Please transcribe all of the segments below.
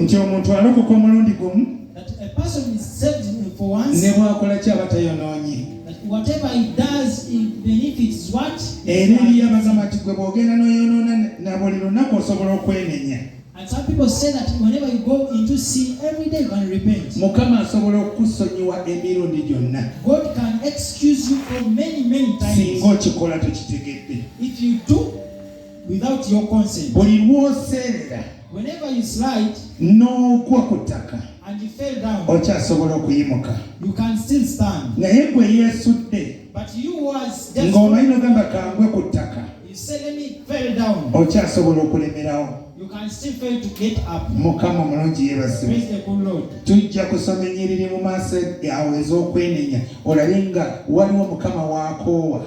nti omuntu alokoka omulundi gumu ne bwakola kyaba tayonoonye whatever he does even if it's what era eriyo abagamba nti gwe bw'ogenda n'oyonoona na buli lunaku osobola okwenenya And some people say that whenever you go into sin every day you can repent. Mukama asobola okukusonyiwa emirundi gyonna. God can excuse you for many many times. Singa okikola tokitegedde. If you do without your consent. Buli lwoserera whenever you slide n'ogwa ku ttaka and you fell down okyasobola okuyimuka you can still stand naye gwe yeesudde but you was just ng'omanyi nogamba kangwe ku ttaka you say let me fell down okyasobola okulemerawo You can still fail to get up. mukama omulungi yeebazibwe Praise the good Lord. tujja kusoma ennyiriri mu maaso awo ez'okwenenya olabe nga waliwo mukama waakoowa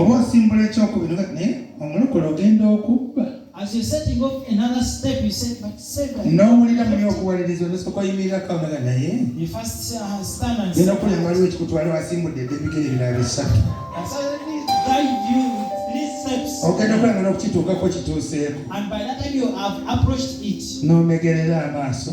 oba osimbula ekyokubiri naye omulokole ogenda okubba n'owulira muli okuwaliriza olusooka oyimirira kaonaga naye genda okulya waliwo ekikutwala wasimbudde edde ebigere ebirala bisatu ogenda okulangana okukituukako kituuseeko n'omegerera amaaso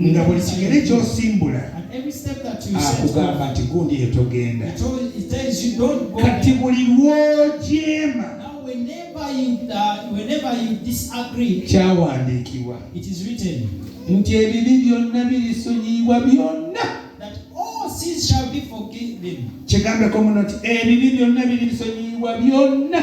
nga buli kigere kyosimbula akugamba nti gundi yetogenda kati buli lwojeema kyawandiikibwa nti ebibi byonna birisonyiyibwa byonna kigambeko muno nti ebibi byonna birisonyiyibwa byonna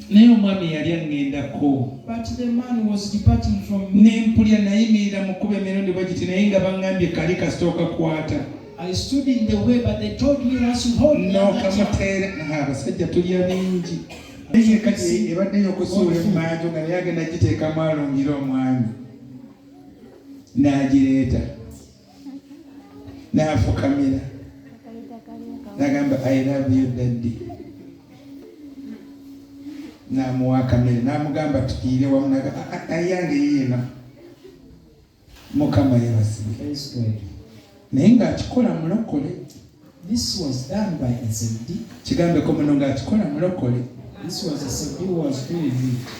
naye omwami yali aŋŋendako ne mpulira nayimirira mu kuba emirundi bwe giti naye nga baŋŋambye kali kasita okakwata n'okamuteera abasajja tulya bingi naye kati ebadde yokusuula emmanju nga naye agenda giteekamu alungire omwami n'agireeta n'afukamira nagamba i love you daddy namuwa akamere namugamba tukiire wamu ayange yeena mukama yebasibwe naye ng'akikola mulokole This was done by a Zebdi. Kigambeko muno ng'akikola mulokole. This was a Zebdi who was doing it.